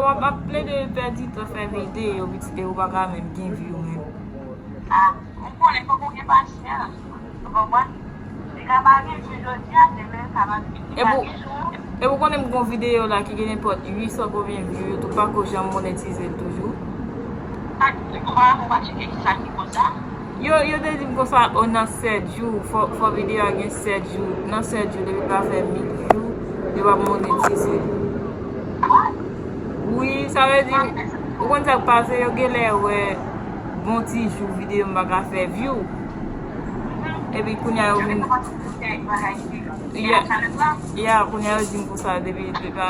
Wap ap plede pèdi tan fè video pitit ew paka menm gen view menm. Ah ou konnen fok ou gen pasyans ou konprann li ka pa gen view jodia demen sa pa vle di li pa gen view. Epi ou konnen m gon video la ki gen nenpòt 800 konbyen view yo tou pako janm monetize l toujou. Sak di ou pa tcheke kisa ki koz sa? Yo yo te dim konsa oh nan 7 jou fò video a gen 7 jou nan 7 jou depi pa fè 8 jou yo pap monetize wi sa vle di ou konn sak pase yo genlè wè gon ti jou video m paka fè view epi kounya yo vin ya kounya yo dim konsa depi pa.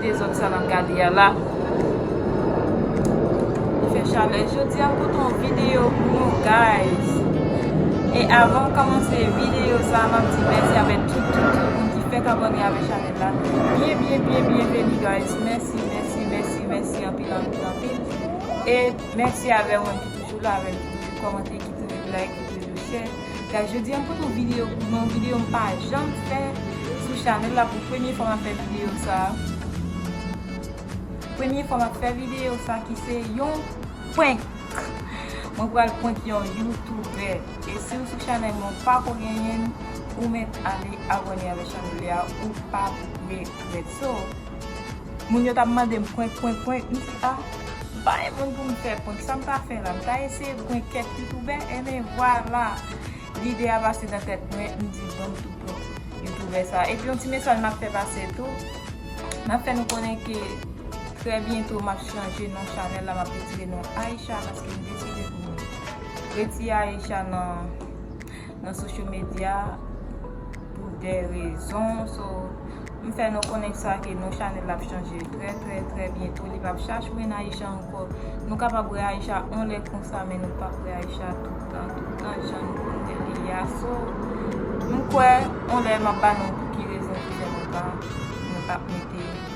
Dezod sa nap gade a la. Li fè chalè jodi a m pote yon video pou nou guys. E avanm komanse video sa map di mèsi avè tout tout tout moun ki fèk abone avè chanèl la. Byen byen byen byen veni guys. Mèsi mèsi mèsi mèsi anpil anpil anpil. E mèsi avè moun ki toujou la avèm ki toujou komante ki toujou like ki toujou share. Guys jodi a m pote yon video pou nou yon video m pa janm fè sou chanèl la pou premye fwa map fè video sa premye fwa map fè video sa ki se yon prank mwen pral prank yon youtube e si w sou chanèl mwen ou pako genyen l ou mèt ale abòne avèk chanèl la ou pap regrèt so Moun yo tap mandem prank prank prank m di ah m pa gen moun pou m fè prank sa m ka fè la m ta eseye prank kèk youtoubè enben vwala lide a pase nan tèt mwen m di bon m tou prank youtoubè sa epi yon ti mesaj map fè pase tou map fè nou konnen ke trè byento map chanje non chanèl la map retire non Aïcha paske m deside pou m retire Aïcha nan. nan social media pou de rezon so m fè nou konnen sa ke non chanel la ap chanje trè trè trè byento li pap Shashmine Aisha ankò nou kapab wè Aisha on lè konsa men nou pap wè Aisha toutan toutan jan nou konn wè li a so m kwè on lè m ap ba nou pou ki rezon ki fè nou pa nou pap mete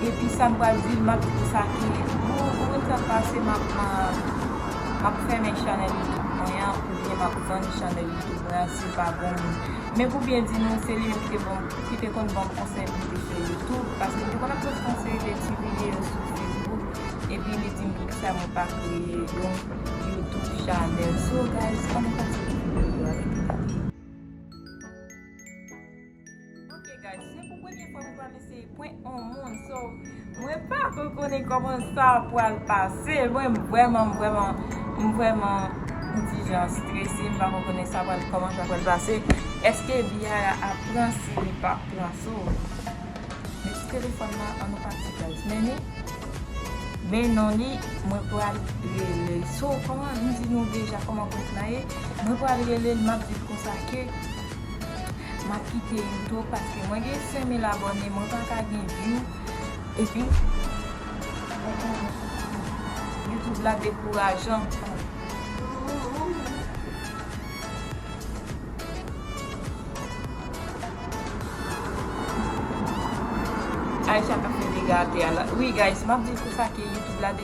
Epi sa m pral di l map di sa ki bon ou menm sa k pase map map fèmen chanèl youtube mwen an oubyen map vann chanèl youtube mwen an si l pa bon moun men pou byen di nou se li menm ki te banm ki te konn banm konsèy pou m te fè youtube paske m te konn ap post yon seri de ti videyo sou facebook epi li di m poukisa mwen pa kreye yon youtube chanèl so guys annou kontinye videyo a kite kote. Ok guys se pou premye fwa mwen pral eseye prank on moun so mwen pa ko konnen koman sa pral pase mwen vreman vreman mwen vreman mwen ti jan strese mwen pa ko konnen sa pral koman sa pral pase eske Biara ap pran si li pap pran so men ti telefòn nan an nou pati guys men ni men non li mwen pral relel so koman mwen di nou deja koman prank la ye mwen pral relel map dil konsa ke Map kite youtube paske mwen gen 5000 abone mwen paka gen view epi youtube la dekourajan. Aisha kap mete gate a la.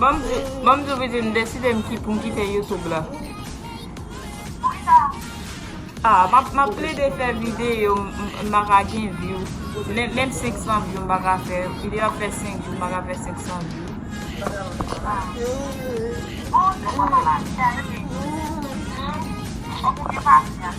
Banm diw Vidi m deside m kite YouTube la. Map plede fè video m pa ka gen view. Menm 500 view m pa ka fè. Video ap fè 5 jou m pa ka fè 500 view. Fok ou gen pasyans.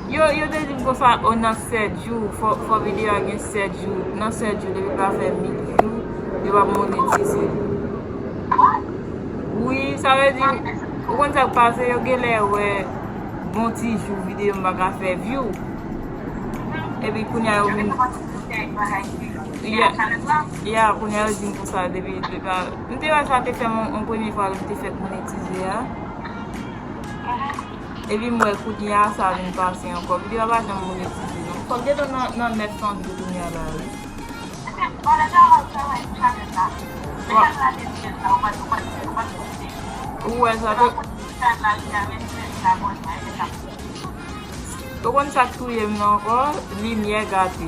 Yo yo te dim konsa oh nan 7 jou fò video a gen 7 jou nan 7 jou depi pa fè 8 jou yo pap monetize wi sa vle di ou konn sak pase yo genlè wè bon ti jou video m paka fè view epi kounya yo vin ya kounya yo dim konsa depi m te wè sa te fèm yon premye fwa lèm te fèk monetize a. Epi m wè kounya sa vin pase ankò video a pa janm monetize non fòk gen tan nan 900 view kounya la wi. Ou wè sa tout. Ou konn sak touyem nan ankò limyè gate.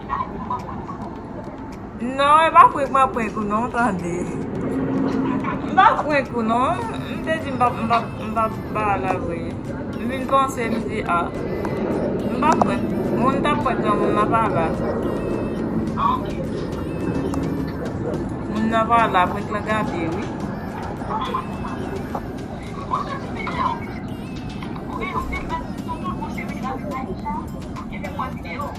Non e pa prank map prank ou non tande M pa prank ou non M te di m pap ba la vre M vin panse m di a M pa prank ou Moun tap prank nan moun nan pa la Moun nan pa la prank lan gate wi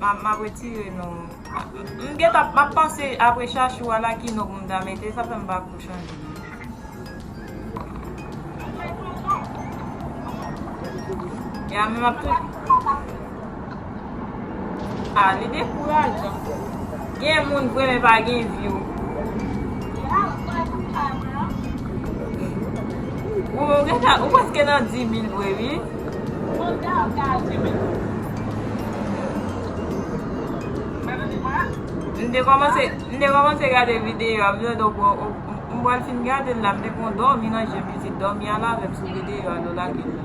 Map retire non. M gentan map panse apre chachou a la ki non pou m ta mete sa fè m pa ko chanje non. Ya men map tou A li dekourajan. Gen moun vre men pa gen view. Ou preske nan 10000 vre wi. Manda ap gaje menm jan. M te komanse m te komanse gade video a m te tande w bro m pral fin gade l la m te konn domi nan je m li di domi al avem sou video a lè w lage l la.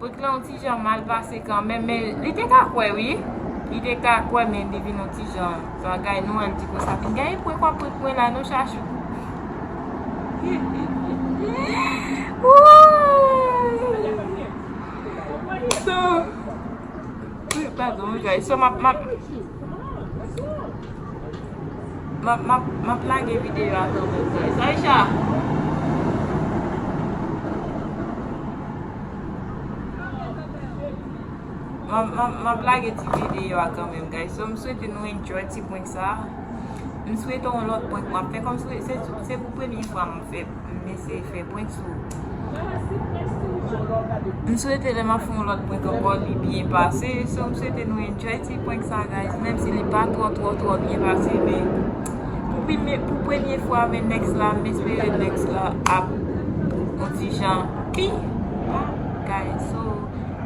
Bout lan yon ti jan mal pase kanmenm men li te ka kwè wi. Li te ka kwè men li vin yon ti jan bagay nou an di kon sa fin gen epwe kwa pwek mwen la non chachou. Wouuy. So, pardon guys, so map map Map lage video a tan pou guys Aïcha Map lage ti video a kan menm guys So m swete nou enjoy ti prank sa M swete yon lòt prank map fè kòm se se pou premye fwa m fè M eseye fè prank sou ou. M swete lè map fè yon lòt prank ankò li byen pase. So m swete nou enjoy ti prank sa guys. Menm si li pa twò twò twò byen pase men pou premye fwa men next la m espere next la ap yon ti jan pi pa guys. So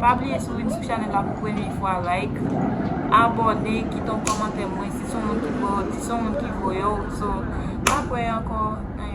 pa bliye si w vin sou chanèl la pou premye fwa like, abòne, kite yon kòmantè mwen si son moun ki voye w. So map wè ankò nan yon.